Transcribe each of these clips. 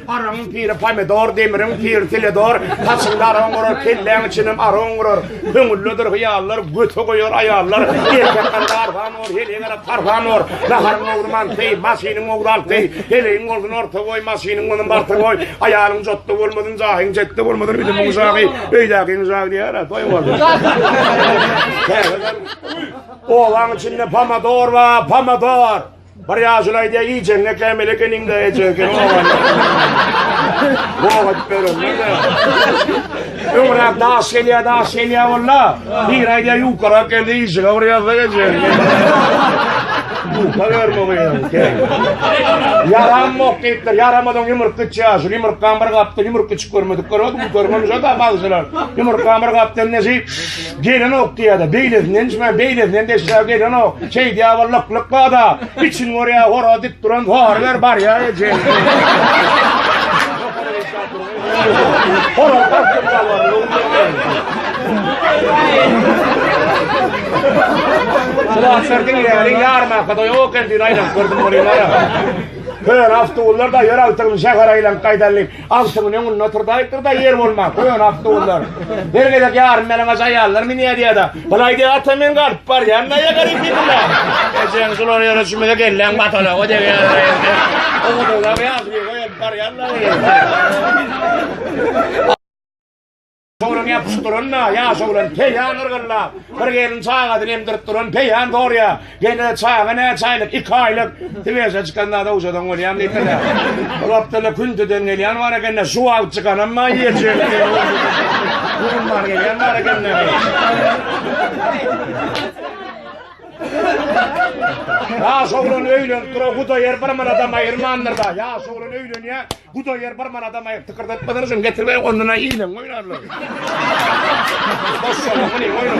Araň piri pomidor, demiriň piri teledor, saçyňda araň gurar, kelläň içinem araň gurar. Köňüllidir hyýallar, göte goýar aýallar. Erkek ganda arhan bor, heleýe gara tarhan bor. Naharyň ogly manty, maşynyň ogly alty. Heleýiň ogluny orta goý, maşynyň ogluny barta goý. Aýalyň jotda bolmasyn, jahyň jetde bolmasyn. Ülümiň jahy, öýdäkiň jahy diýýär, toý boldy. Obaň içinde pomidor bar, pomidor. Bir ýaşuly aýdýar, iýjegiňe kämil ekeniň-dä, ejeň eken owadan. Bogat berenler-dä. Öňräk daş gelýär, daş gelýär walla. Biri aýdýar, ýukarak geldi, işiňe bir ýazsa ejeň. Ýuka berme gyýaň. Ýaramok diýipdir, ýaramadygyň ýumruk gitýär. Şu ýumrukdan bir gapdan ýumruk gitip görmedikler, ol götermemiş-ä daş alyjylar. Ýumrukdan bir gapdan nesip. Gelenok diýýär-de, beýlesinden içmän, beýlesinden deşläp gelenok. Şeýdýär-ä lyk-lyk bada. Içini görýär, horaz dik duran sary berip barýar eje. Horaz garkdy galany. Sulatlar diňläri ýarma kada ýok endi aýlap gördüm bolýar. Hör awtobuslar da ýör awtobusy şäher aýlanyp gaýdalyp. Agşamyny öňünde oturdaýypdyr-da, ýer bolman, köne awtobuslar. Her gezek ýarym ýalaňaç aýallar münýär diýýär-de, Bulaý diýýär, ata men galyp barýan daýza garik diýdiler. Ejeň şular ýere çümüde kelläň batalaga degýär indi. Ogudyňda ýaşuly goýup barýanlaryň. Şolaň ýapyşyp duranyna ýaş oglan peýan yrgyllap, bir gelin çagasyny emdirip duran peýan sorýar, Gelin-ä, çaga näçe aýlyk? Iki aýlyk. Siweşe çykanda dowjadan bolýan diýseler. Ol Abdylla Kündüden gelýän bar eken-dä, şu wagt çykanam maý ýerçöli diýen gurundan gelýän bar eken-dä. Ýaş oglan öýlenip duran Hudaýar bir manadam aýyrmandyr-da, ýaş oglan öýlenýär, Bu doýar bir manada maýyp tykyrdatmadan üçin getirmeýin ondan-a iýleň oýnarlar. Boşşalyk bilen oýnar.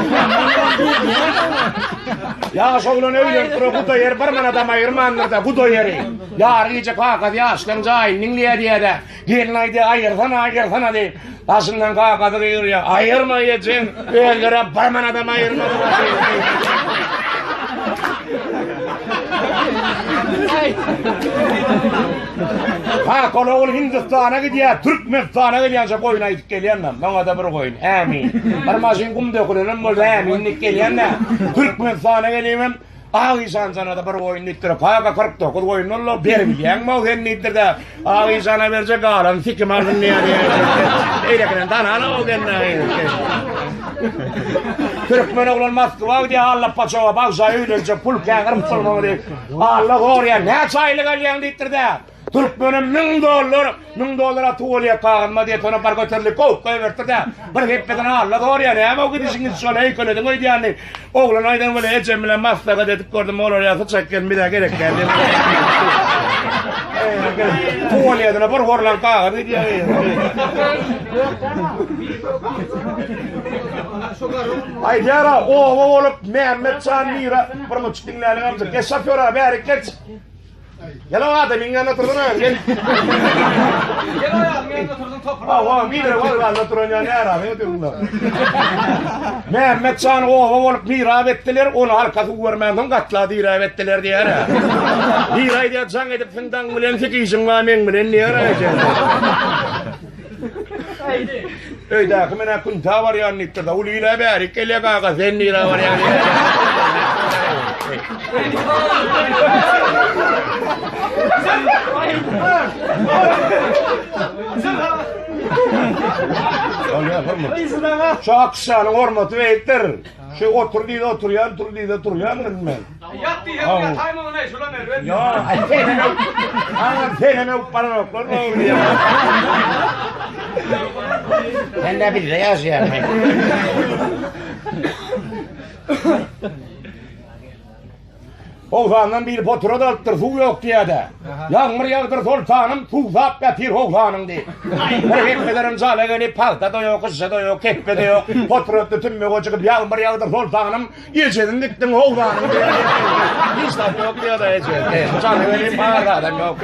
Ýaş oglan öýlenip dur bu doýar bir manada maýyrmandyr-da bu doýary. Ýary gije kakasy ýaşlaň jaýyny diňleýär diýýär-de. Gelin aýdýar aýyrsana aýyrsana diýip. Başyndan gagazy gyrýar. Aýyrma ejeň, özlerem bir manadam aýyrmadylar. Hak ol ogul Hindistana gidýär, Türkmenistana gelýänçe goýun aýdyp gelýänler. Maňa-da bir goýun. Ämin. Bir maşyn gum dökülenem bolsa äminlik gelýänler. Türkmenistana gelýän Ak işan janada bir goýun diýipdir. Paka 49 goýun bollar, beribilýäňmi sen diýipdir-de. Ak işana berje galan sikim alsyn diýýär. Eýlekiden danana ol genne. Türkmen oglan Moskwa gidýär, Alla paçawa bagşa öýlenjek pul käňir musulman diýip. Alla gorýar, näçe aýlyk alýaň diýipdir-de. Türkmenim müň dollar, müň dollar atyp bolýar kagyzma diýip ony bar göterdi, kowup goýberdi-de, bir hepdeden alla zorýar, näme gidişiňiz şol heýkelediň öýdýänini. Oglan aýdan welin ejem bilen maslahat edip gördüm, olar ýa syçak gelin bizä gerek däl diýip. Tuwalýetine bir horlan kagyz gidýär. Aýdýara, oba bolup Mämmetjan Mira bir muçuk diňläliň amjak. Geç şofýora bärik geç. Gel aga da meň ýanyna turdur aga gel. Gel aga meň ýanyna turdur topur. Ha wa mire wa ýanyna turan ýa nära aga durlar. Mehmet şan owa bolup mirap etdiler, ony arka suw görmän soň gatla dirap etdiler diýär. Mira aýdýar jaň edip siň daň bilen sik işiň wa meň bilen diýär eken. Öýdäki men akun ta barýan diýipdir. Ul ile bärik gelýär gaga sen nire barýan. Şu akşanyň hormaty beýikdir. Şu otur diýdi oturýan, tur diýdi turýan men. Ýat diýýä bu ýat haýmagyny näme şolar näme berip. Ýok. Aňa senen öp baranoklar ne bolýa. Sen de bizde ýaşaýan. Howsandan bir potura da alypdyr, suw ýok diýýärdi. Ýagmyr ýagdyr soltanym, suw sap gapyr howsanyň diýip. Bir hepbelerin jala gelip, pagta da ýok, gyşa da ýok, kepbe de ýok. Potura tütünme goçup, ýagmyr ýagdyr soltanym, Ejesiň gitdiň howzanyň diýen ýerinde hiç zat ýok diýýär-de eje. Jany welin bar adam ýok.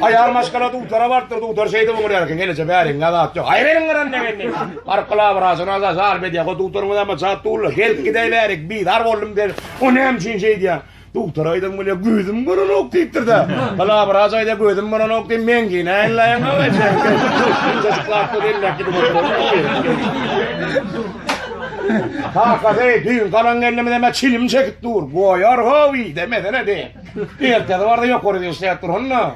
Aýal maşgala dutara barypdyr, dutar şeýdip öňürýär eken, geleje bäriň zat ýok. Aýr eliň gyran degen diýip. Baryp glawwraja nazar salp edýär. Go dutarymyz hem jap dullar. Gelip gidäýbärik, bizar boldum diýip. O näme üçin şeýdýär? Dogtar aýdan bolýa gözüm görenok diýipdir-de. Palabraç aýda gözüm görenok diýip men ki näýleýäň aga sen. Çocuklarsa belläp gidip Kaka hey düýn galan gelnimize me çilim çekip dur. Goýar howi demesene de. Ertesi barda ýokary işläp dur onda.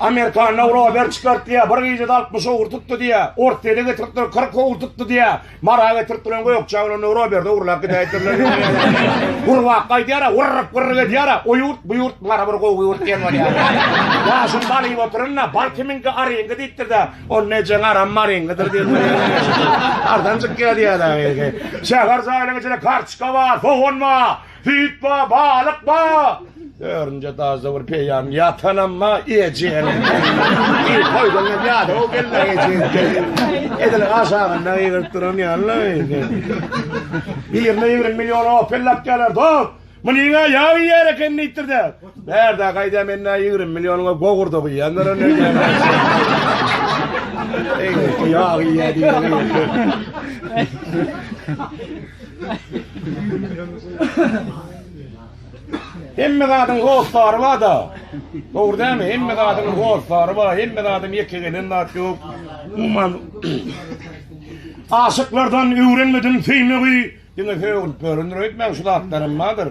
Amerikan Rober çykart diýä, bir gijede 60 owur tutdy diýä, Orsýede getiripdir 40 owur tutdy diýä, Mara getiripdir gökje owrunda Roberde urlap gidäýipdirler. Gurbak gaýdýara, gurrup gurrup edýara, o ýurt bu ýurt Mara bir gowy ýurt diýen bolýar. Ýaşym balyp oturynda, bal kiminki aryňky diýipdir-de, on nejeň aram maryňkydyr diýip. Ardanjyk gelýär-de. Şäher jaýlaryň içinde kartoçka bar, sogan bar. Süýt bar, balyk bar. Örünje daşda bir peýam ýatanam bar, ejeň. Eý, toýdan hem ýada o gelin ejeň. Edil aşagynda ýygyryp duran ýaly. Birine ýigrimi million opel lap geler, dost. Munyň aýagy ýer eken diýipdir-de. Bärde gaýda mende ýigrimi millionuňa gogurda guýýandyr indi. Eý, ýag iýýär Hemme zadyň hossary bar-da. Dogry dämi? Hemme zadyň hossary bar, hemme zadyň ýeke gelen zat ýok. Umuman, aşyklardan öwrenmedim söýmegi. Diňe sögülip ýörendir öýtmäň şu zatlaram bardyr.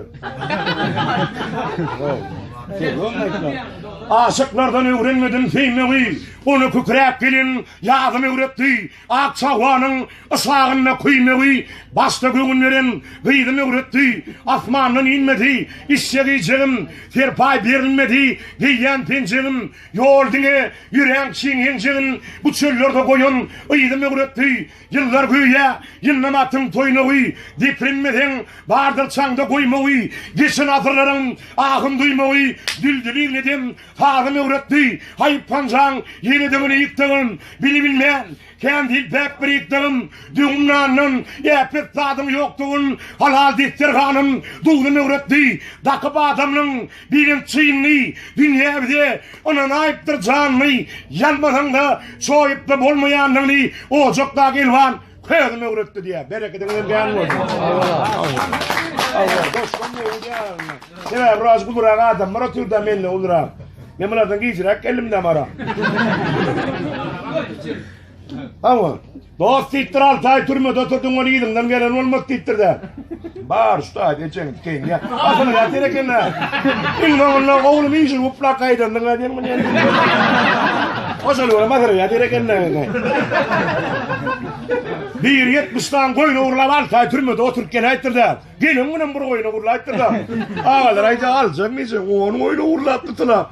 Aşyklardan öwrenmedim söýmegi, Ony kükräp gelin ýazym öwretdi. Ak çawanyň yşagynda küýmegi, Başda göwün beren gyzym öwretdi. Asmandan inmedi işjek-iýjegim, Serpaý berilmedi geýýän penjegim. Ýol diňe ýöräň çiň enjegin, Bu çöllerde goýan yzym öwretdi. Ýyllar göýä ýyllym atyň toýuna guý, Deprinmeseň, bardyr çaňda goýma guý, Geçen asyrlaryň ahyn duýma guý, Düldüliň edem sazyn öwretdi, Haýp hanjaň ýeledigin iýip dagyn, Bili bilmän, kän diýip bäk birik dagyn, Döwüm nandan äpet zadyň ýokdugyn, Halal desterhanyn duzy möwretdi, Dakyp adamlyň Birem çynly dünýä bize ynanaýypdyr janly, Ýalmasaň-da, çoýup-da bolmaýanlygyny Ojakdaky elwan közüm öwretdi diýýär. Berekediňizem kän bolsun. Sebäbi biraz ulurak adamlar oturdy-da menden ulurak. Men bulardan gijiräk geldim-dä mara. Hawa. Dost diýipdir, alty aý türmede oturdyň, ony yzyňdan gelen bolmaz diýipdir-dä. Bar, şu taýda ejeňi dikeýin diýýär. Asyl ýatyr eken-dä. Iň soňunda, oglum, injil guplap gaýdandyň-a diýen muny indi. Oşony görüp asyl ýatyr eken-dä. Biri ýetmiş sany goýun ogurlap, alty aý türmede oturyp geläýipdir-dä. Gelen günem bir goýun ogurlaýypdyr-da. Agalar aýdýar, aljak niçe? On goýun ogurlapdy, tylap.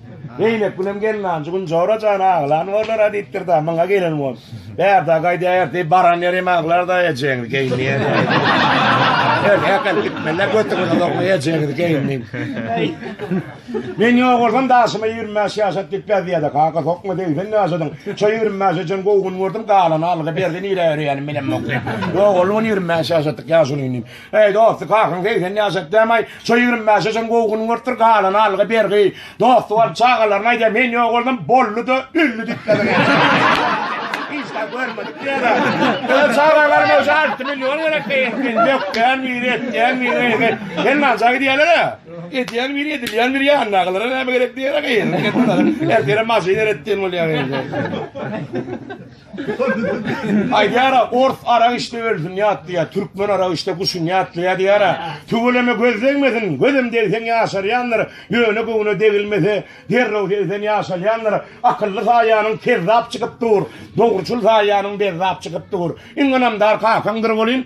Zeýnepgülem gelnanjy gün Jora jan aglan bolar-a diýipdir-de, myňa gelen bolup, bärde gaýdaýar diýip, baran ýeri hem aglar-da ejeňiz geýinýär diýip. Erkek alyp gitmeliler, götüňize dokma ejeňiz geýindi. Men ýok bolsam daşyma ýigrimi bäş ýaşat diýip beziýär-de, kaka sokma segsen ýaşadyň, şo ýigrimi bäşe çen gowy gün gördüm, galany aldy-berdi, nirä ýörýänim bilemok diýip, ýok boldy ýigrimi bäş ýaşatdyk ýaşulyny. Eý dosty, kakaň segsen ýaşap dämaý, şo ýigrimi bäşe çyn gowy gün görüpdir, galany algy-bergi. Dosty bolup çagalaryna aýdýar, men ýok boldum, boldy-da, öldi diýipdir. Hiç zat görmedik diýýärä. Öz çagalaryma şu alty million gerek diýýär. Men dökýän biri, etýän biri, eýsem, sen nanja gidýärler-ä? Edýän biri, edilýän biri ýanyndakylara näme gerek diýýär-ä, gyýylyp gitdiler. Ertire maşyn eretdiýen bolýar eýsem. Aýdýara ors arak içdi ölsün ýatlaýa, türkmen arak içdi guşun ýatlaýa diýýara. Tüweleme göz degmesin, gözem degseň ýaşarýandyr, ýöne göwne degilmese, derrew segsen ýaşalýandyr. Akylly saýanyň kezzap çykyp dur, dogruçyl saýanyň bezzap çykyp dur. Iň ynamdar kakaňdyr welin,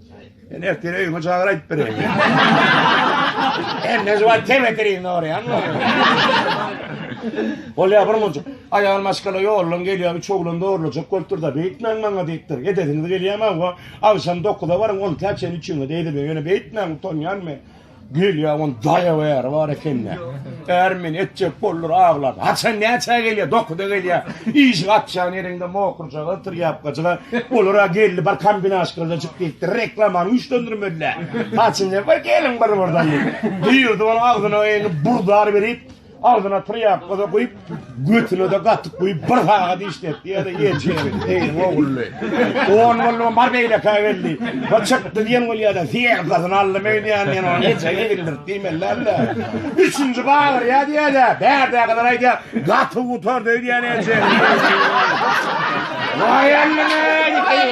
Men ertir öýüme çagyr aýdyp bereýin. Her näze bar tebeterin orýan. Bolýar bir mujuk. Aýal maşgala ýollan gelýär, üç oglan dogurlajak bolupdyr-da, beýtmäň maňa diýipdir. Edesiňiz gelýärmi hawa? Agşam 9-a baryň, 10 täçäni üçiňiz eýleberiň. Ýöne beýtmäň, utanýan men. Gelýä on daýaw äri bar ekende. Är men etjek boldur aglap. Haçan näçä gelýä? Dokuda gelýä. Iş gatşan ýerinde mokurjaga otur ýapgaçyga. Olara geldi bir kombinaşkada çyk diýipdir. Reklamany güýçlendirmediler. Haçan bir gelin bir birden. Duýurdy ony agzyna eýni burdar berip. Agzyna trýapka-da guýup, götüne-de gatyk guýup, bir sagat işletdi, ýa-da ýeňçe ýeri, eýeň ogully. On boldy, bar beýlekä geldi. Bir çykdy diýen bol ýa-da syýagasyny aldy meýdýan diýen ony ýeňçe ýedirdirip diýmeli däl-de. Üçünji bagyrýa diýer-dä, bärdäkiler aýdýar, gaty gutardy öýdýän ýeňçe. Waý Allam-eý!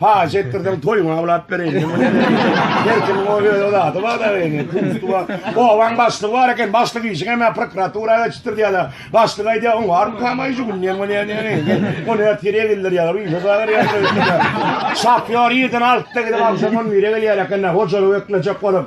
Paş etdirseň toýuňa awlap bereýin. Her kimiň o öz zady bar da indi. Kustu bar. Obaň başlygy bar eken. Başlyk işi hem prokuratura geçipdir diýýärler. Başlyk aýdýar, oň bar kamaý şu günden bu ne ne. Ony ertire bildir ýa. Ýa zagar ýa. Şapýor ýerden alyp da gidip alşam on bire gelýär eken. Hojalyk eklejek bolup.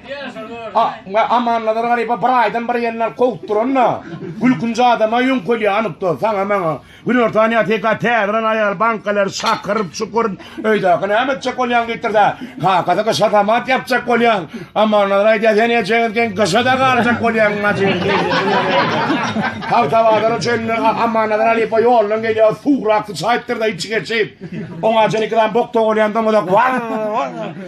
Amannazar Garyba bir aýdan bir ýerine alyp kowupdyranda, gülkünji adama ýöňkelýär anykda, saňa-maňa. Günortan ýa teka täzelen aýal bankalar şakyryp, çukuryp, öýdäki näme etjek bolýaň diýipdir-de, kakasy gyşa samat ýapjak bolýar. Amannazar aýdýar, sen ejeňiz geň gyşa-da galjak bolýaň majyr diýip. Tagtabazara çenli Amannazar halypa ýoldan gelýär, suw rakdy çaýypdyr-da içi geçip, oňa çenli iki sany bok togulýan doňuzak, Waw-waw!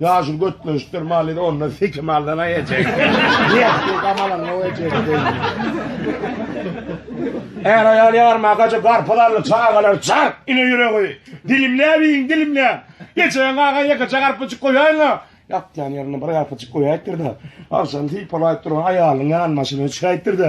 Ýaşyl götleşikdir maly da onda seki maldan aýa çek. Ýetdi gamalan o ejekdi. Är aýal ýarma gaja garpyz aldy çagalar çar ine ýüregi. Dilimläp iýin dilimläp. Geçen gaga ýekeçe garpyjyk goýaýyň-a. Ýatýan ýerinde bir garpyjyk goýaýypdyr-da, agşam sypalaýyp duran aýalynyň ýanbaşyna çykaýypdyr-da,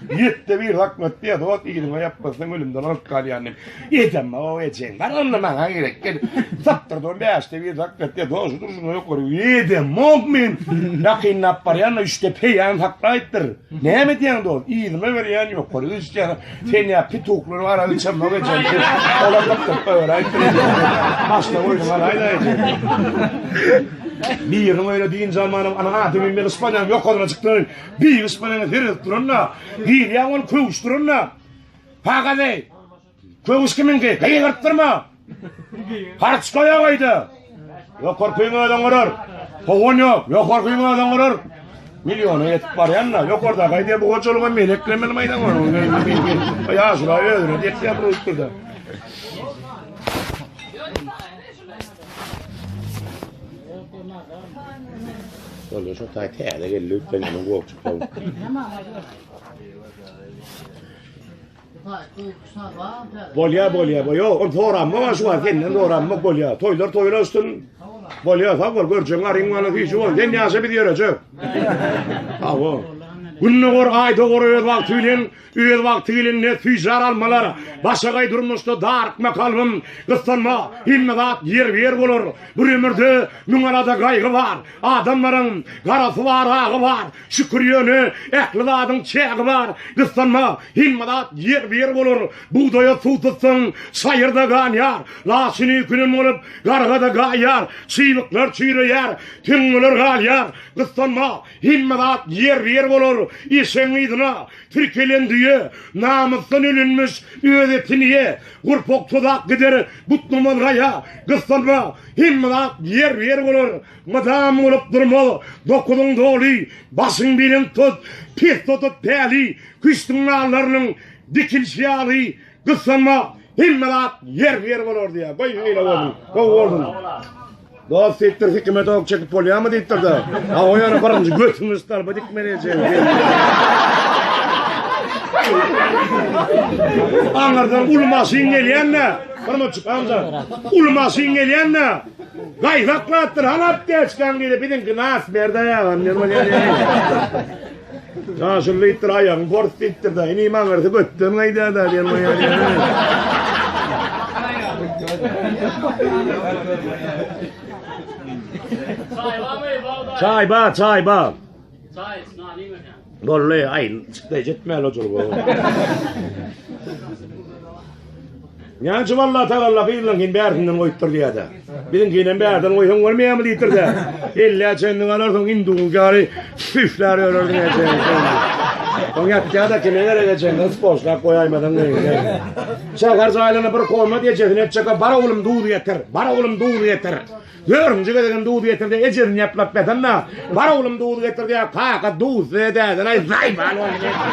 Ýetde bir hakmat diýe dot ýeriňe ýapmasaň ölümden alyp galýan diýip. Ejem o ejeň bar onda maňa gerek gel. Sapdyr don bäşde bir hakmat diýe dot şudur şuna ýok görüp. Ýedem mok men. Ýakynlap barýan da üçde peýan saklaýypdyr. Näme diýen dot ýerime berýän ýok görüp. Üçden sen ýa pituklary bar aly çem mok ejem. Olar tapdyp öwräýipdir. Başda oýun galaýda ejem. Biriň öýüne dynç almanam ana adymy bilip barýan ýokaryna çykdym. Biýgiş bilen herez duran-da, girýäň ol köwüş duran-da. Pagady! Köwüş kimiňki? Gygyrtdyrma! Harçka ýok öýde! Ýokarkyň özüň gurar. Howan ýok, ýokarkyň özüň gurar. Milliona ýetip barýan-da, ýokarda gaýdy bu hojalyga meleklemeli maýdan bar. Ýaşula özüne dek ýapyryp dur-da. Şol şu taý täze geldi ötden ýaman gowuk çykdy. Bolýa bolýa bolýa. Ol soranma şu wagt senden soranma bolýa. Toýlar toýlar üstün. Bolýa sag bol görjeň garyň bana hiç bol. Sen ýaşa biz ýörejek. Sag bol. Günde gor aýda gor öz wagty bilen Öz wagty gelende süýjar almalar, Başagaý durmuşda darykma kalbym, Gyssanma, hemme zat ýerbe-ýer bolar. Bir ömürde müň alada gaýgy bar, Adamlaryň garasy bar, agy bar, Şükür ýöne ähli zadyň çägi bar. Gyssanma, hemme zat ýerbe-ýer bolar. Bugdaýa suw tutsaň, çaýyrda ganýar, Laçyny künem bolup, garga-da gaýýar, Çybyklar çüýreýär, tüňňeler galýar. Gyssanma, Hemme zat ýerbe-ýer bolar. Eşegiň yzyna tirkelen düýe, namysdan ölenmiş, öz etini ýe, gurpak tozak gider, butnamaz gaýa, gyssanma, hemme zat ýerbe-ýer bolar. Mydam bolup durmaz, dokuzyň doly, başyň belent tut, pes tutup päli, küştüň nallarynyň dikilişi ýaly, Gyssanma hemme zat ýerli ýeri bolardy ýa. Goý şeýle bolsun. Gowy bolsun. Dost diýipdir hikmet ok çekip bolýarmy diýipdir de. Ha o ýere birinji götüňi stalba dikmeli ejeň. Aňyrdan uly maşyn gelýände, bir muçuk amca. Uly maşyn gelýände gaýzaklapdyr, halap diýip, biziňki nas berde ýa. Daşym diýipdir, aýagym pors diýipdir da. Inim aňyrsy götden gaýdar da diýen goýar. Çaý bar, çaý bar. Çaý, nani mekan. Bolly, aýn, çykdy, jetmäli otur bu. Näme üçin Allatagalla gyzlaňkyny bärsinden goýupdyr diýýär-dä. Biziňkinem bärden goýsaň bolmaýarmy diýipdir-dä. Ellä çenli alarsyň, hinduňky ýaly süýşlär ýörersiň ejeňi. Oň ýatýa-da kime gerek ejeň gyz boşlap goýaýmasaň gyzy. Şäher jaýlaryna bir komat ejesini etjek, bar oglum duzy getir, bar oglum duzy getir. Dördünji gezegem duz getirdi, ejesini ýaplap ýatanda, Bar oglum duz getirdi-ä, kaka, duz size däden-aý, zaý bal boluň diýipdir.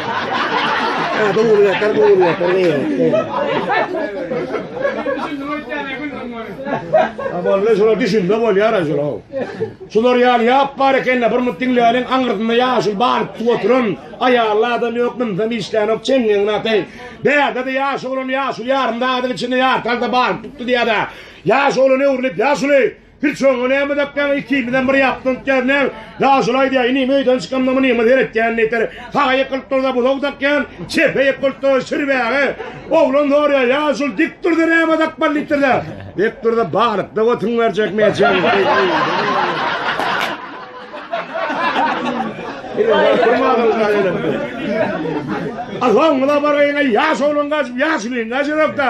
Duz getir, duz getir diýipdir. Boldy, şular düşünse bolýar-a şular. Şular ýaly ýap bar eken-le, bir mugt diňläliň, aňyrsynda ýaşuly balypjyk oturan, aýally adam ýok, mynsam işlänok, çeňňegiňi ataý. Bärde-de ýaş oglan ýaşuly ýarym sagadyň içinde ýartalsa balyp tutdy diýýär-ä. Ýaş oglan öwrülip, Ýaşuly, hiç oňa näme dakýaň, ikimizem bir ýapda ötýäs, näme? Ýaşuly aýdýar, Inim, öýden çykamda munyňa seretýän diýseler, saga ýykylyp dursa, buzag dakýan, çepe ýykylyp dursa, şir bäge. Oglan soraýar, Ýaşuly, dik dursa näme dakmaly diýipdirler. Dik dursa, balykda götüň berjek, merjek. Soňuna bargaýyň-aý, ýaş oglan gaçyp, Ýaşulyň gaçyrak-da.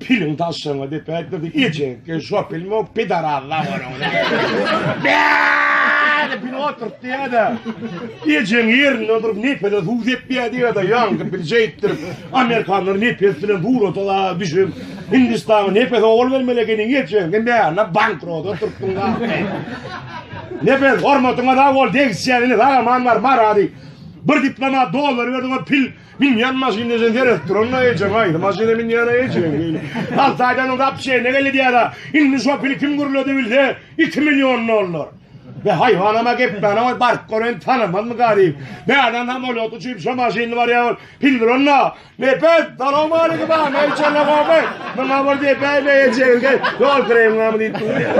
Piliň daşyňy dep ätmese ejekge şo pilmok pidaraz zawaryň bäde pil otyrt diýädä. Ejeň ýerinde durup nepese suw sepýä diýädä ýaňky pil şeýtdir. Amerikanlar nepes bilen surata da düşüp Hindistana nepes owal bermeli ekeniň ejeňi mäne bankrot oturtdyň ahme. Nepes hormatyňa sag bol degişýän ine sag aman bar marady. Bir diplomat dollar berdiňe pil Binýan maşyn deşen seredip duranda ejeň aýdy maşyna binýana ejeň diýli. Altaýdanyň zap çeýne geldi diýýärä. Indi şo pili kim gürledi bilse iki million dollar. Be haýwanama gepmäne goý baryp gören tanamazmy garyp. Bädan samolýoty uçyp şo maşynly barýar ol. Pil duranda Nepes salowmalikim a neýçerle gowy. Muňa bir depäýme ejeňize ýol kremňamy diýip durýar.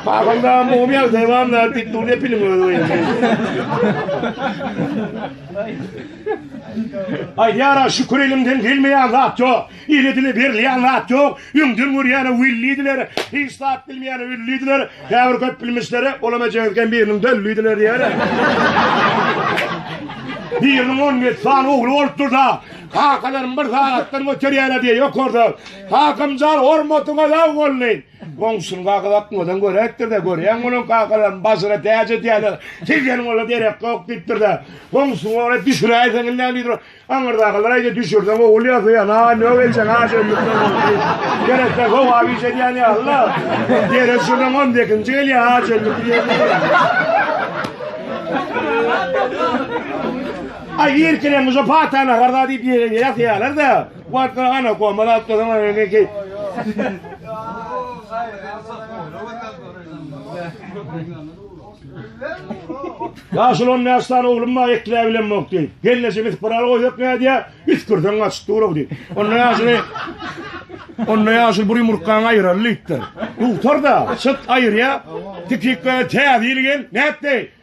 Paýhanda mumyýa dewamlar diýip durýar piliň özi. Aýdýara şükür elimden gelmeýän zat ýok. Ile dile berilýän zat ýok. Öňden görýäne willidiler, hiç zat bilmeýäne üllidiler. Käbir köp bilmişlere olam ejeňizken biriniň döllidiler diýer. Biriniň on ýedi sany ogly bolupdyr-da, kakalarym bir sagatdan göterýärler diýýär ýokarda. Kakamjan hormatyňa laý boldy. Goňşyny gagyzatmadan göräýipdir-de, Görýäň, munuň kakalaryny bažyra täç edýärler. Sizden ola derek ýok diýipdir-de, goňşyny ora düşüräýseň indem diýipdir. Aňyrdakalar aýdýar, Düşürseň ogul ýasaýan, a nög edýän, a şeýlelikden boldy diýip. Gerekse sogap iş edýän ýaly-la. Ýere düşürseň on sekizinji gelýär, a şeýlelik diýip. Aý, irkileň, muşa pata nahar-da diýip ýasaýarlar-da. Wagtynda ana gomal alyp dursaň ony indi geý. Ýaşuly on bäş sany oglum bar, ekläp bilemok diýip. Gelneje bitip bir al goýsak nädýär? Üsgürseň gaçyp dur-ow diýip. Onda ýaşuly Onda ýaşuly bir ýumurtgaňy aýyraly diýipdir. Dugtar-da, çyt aýyrýar. Tikikle täze ýyl gel, nätdi?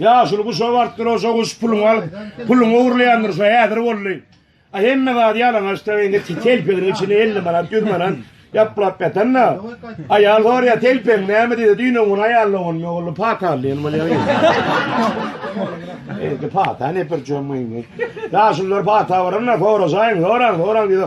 Ýaşuly guşa barypdyr, oja guş puluňy alyp, puluňy ogurlaýandyr, şo häzir boldy. A hemme zady ýalaňaçdyr, indi telpegiň içinde elli manat, ýüz manat ýaplap ýatan-da. Aýal soraýar, telpegiň näme diýdi, düýn-o gün aýalyň ogluny ogurlap pata aldy, ýöne bolýar. Indi pata ne pürçügem indi. Ýaşulylar pata baranda soraşaýyň, soraň, soraň diýdi.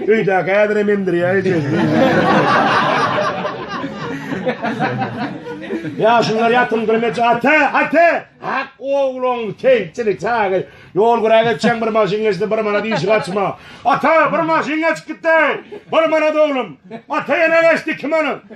Öýdäki häzirem emdirýär ejesini. Ýaşullar ýatymdyrmyç ata, ata! Hak ogluň kemçilik çagy. Ýol güräp geçen bir maşyn geçdi, bir manat işi açma. Ata, bir maşyn geçip gitdi. Bir manat oglum. Ata ýene geçdi iki manat.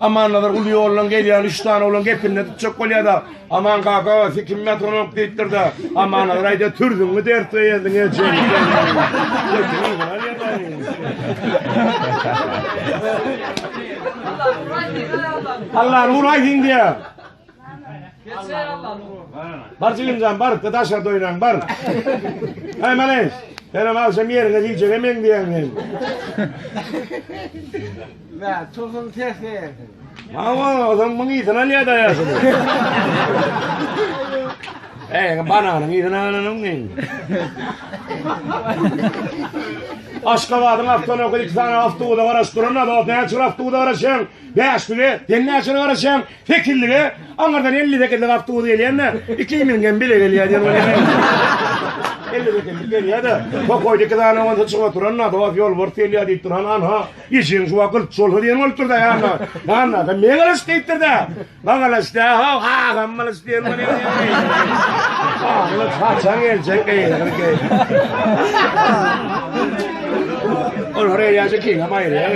Amannazar uly ýoldan gelýän üç sany oglan gepinde tutjak bolýar-da, Aman kaka, siz kim metronom diýipdir-de, Amannazar aýdýar, türzüňmi dert beýendiň ejeň. Allah nur aýdýar. Bar jigimjan bar, daşa doýlan bar. Aý menen, senem agşam ýeriňe diýjege men diýen men. Mä, tohum ses berdi. Mawa, adam muň ýitini alýar da ýaşy. Eý, bananyň ýitini alanyň men. Aşgabadyň awtony okyp, iki sany awtony garaşdyran, awtony çyraşdyran, sen näçe garaşýaň? Sekizlige aňyrdan elli sekizlik awtobus gelýän-de, iki iňňem bile gelýär diýen weli geldi. Elli sekizlik gelýär-de, pokoýda iki sany owunsa çykyp oturan-da, Dost, ýolbars gelýär diýipdir, han, han-ha, işigiň şu wagt gylt şolsa diýen bolupdyr-da, han-ha, han-ha, sen meň alyş diýipdir-de, Maň alyş däl-haw, agam alyş diýen weli geldi. Alyş haçan geljek, geýnir, geýnir. Olar eýýäm ikiňem aýryýar.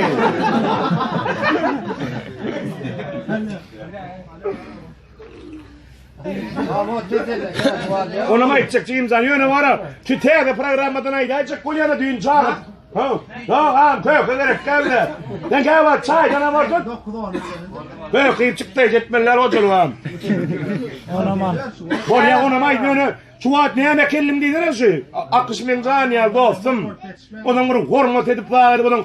Olam aýtjak Jimjan ýöne wara. Şu täze programmadan aýdaýjak bolýana düýn çagyp. Ha. Ýok, am köke gerek geldi. Sen gäwä çaýdan awar tut. Köke çykdy jetmeller ojalgam. Olam al. Bolýa onam aýt ýöne şu wagt näme kellim diýsene şu. Akyş men jan ýa dostum. Onuň bir hormat edip wagt edip onuň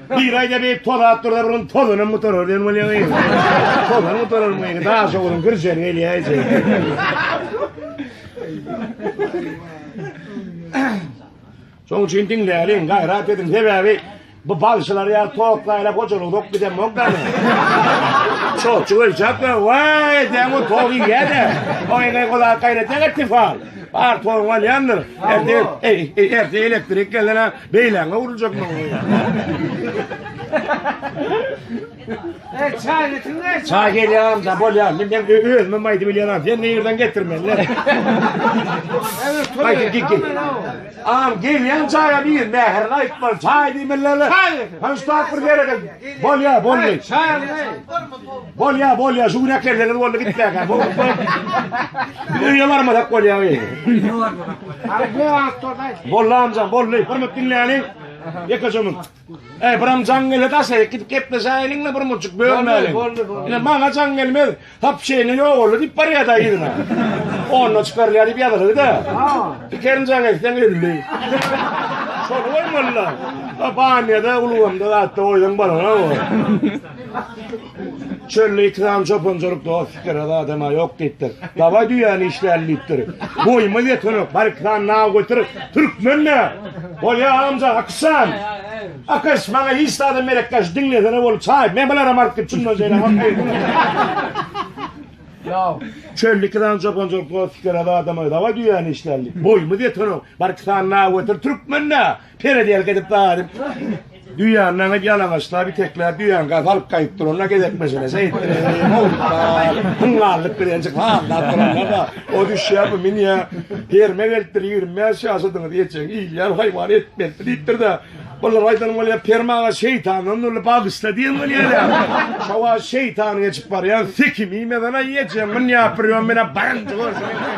Bir aýda beýik tozap durda bir gün tozanam gutarar diýen bolýaňy. Tozan gutarar bu ýene daş ogluň girjen gelýär. Şoň üçin diňläliň, gaýrat ediň. Sebäbi bu bagşylar ýa toklaýlap hojalyk dok giden mokdany. Çoçu ölçäp de, waý, deň o togy ýa-da. O ýene gola gaýrat etdi fal. Bar togy bolýandyr. Erdi, erdi elektrik gelene. Beýläňe urulacak maňa. E, çay getirme. Çay gelýäm da bolýar. Men hem özüme maýdy bilýän Sen ne ýerden getirmeli? Evet, Maýdy git git. Am gelýän çaýa bir mähir aýtmaly. Çay diýmeli. Çay. Hanştap bir ýere gel. Bolýar, bolýar. Çay. Bolýa bolýa şu gün äklerseňiz boldy gitmäkä. Bu Biz öýe barmasak bolýa. Boldy amjan boldy. Bir minut diňläliň. Ýekejemiň. Eý biram jaň gele daşaýyk gidip gepleşäýeliň we bir muçuk bölmäliň. Boldy boldy. Ine maňa jaň gelmez. Hap şeýne ýok oldy diýip barýar da ýerine. Onda çykarýar diýip ýazyldy da. Pikerin jaň etseň öldi. Şol goýmalylar. Banyýada, ulgamda, atda goýsaň bolana o. Çölde ýiti galan çopanjylyk dost pikir az adama ýok diýipdir. Dawaý düýäni işläli diýipdir. Boýumyz ýetenok, barik san naw göter, türkmen nä? Bolýa amja Akyşjan. Akyş, maňa hiç zada merekdaş diňlesene bolup çaý, men bularam alyp git şundan şeýle hak. Naw. Çölde ýiti galan çopanjylyk dost pikir az adama dawaý düýäni işläli. Boýumyz ýetenok, barik san naw göter, türkmen nä? Peredelk edip daýyp, düýäni naňyp ýalaňaçlap, itekläp, düýäni gaýyp alyp gaýyp duranda gezek meselesi etdireni, mowluklar, hungarlyk bilenjik sazlap duranda-da, o düşýär, bu münýär, herime gelipdir, ýigrimi bäş ýaşadyňyz, ejeň ilýär, haýwan et berdi diýipdir-de, bulara aýdanym bolýar, Perim aga şeýtandan dürli bagyşla diýenim gelýär-ä. Şo wagt şeýtan geçip barýan, sikim iýmesene, ejeň münýär, bir ýom menä barynja görsün.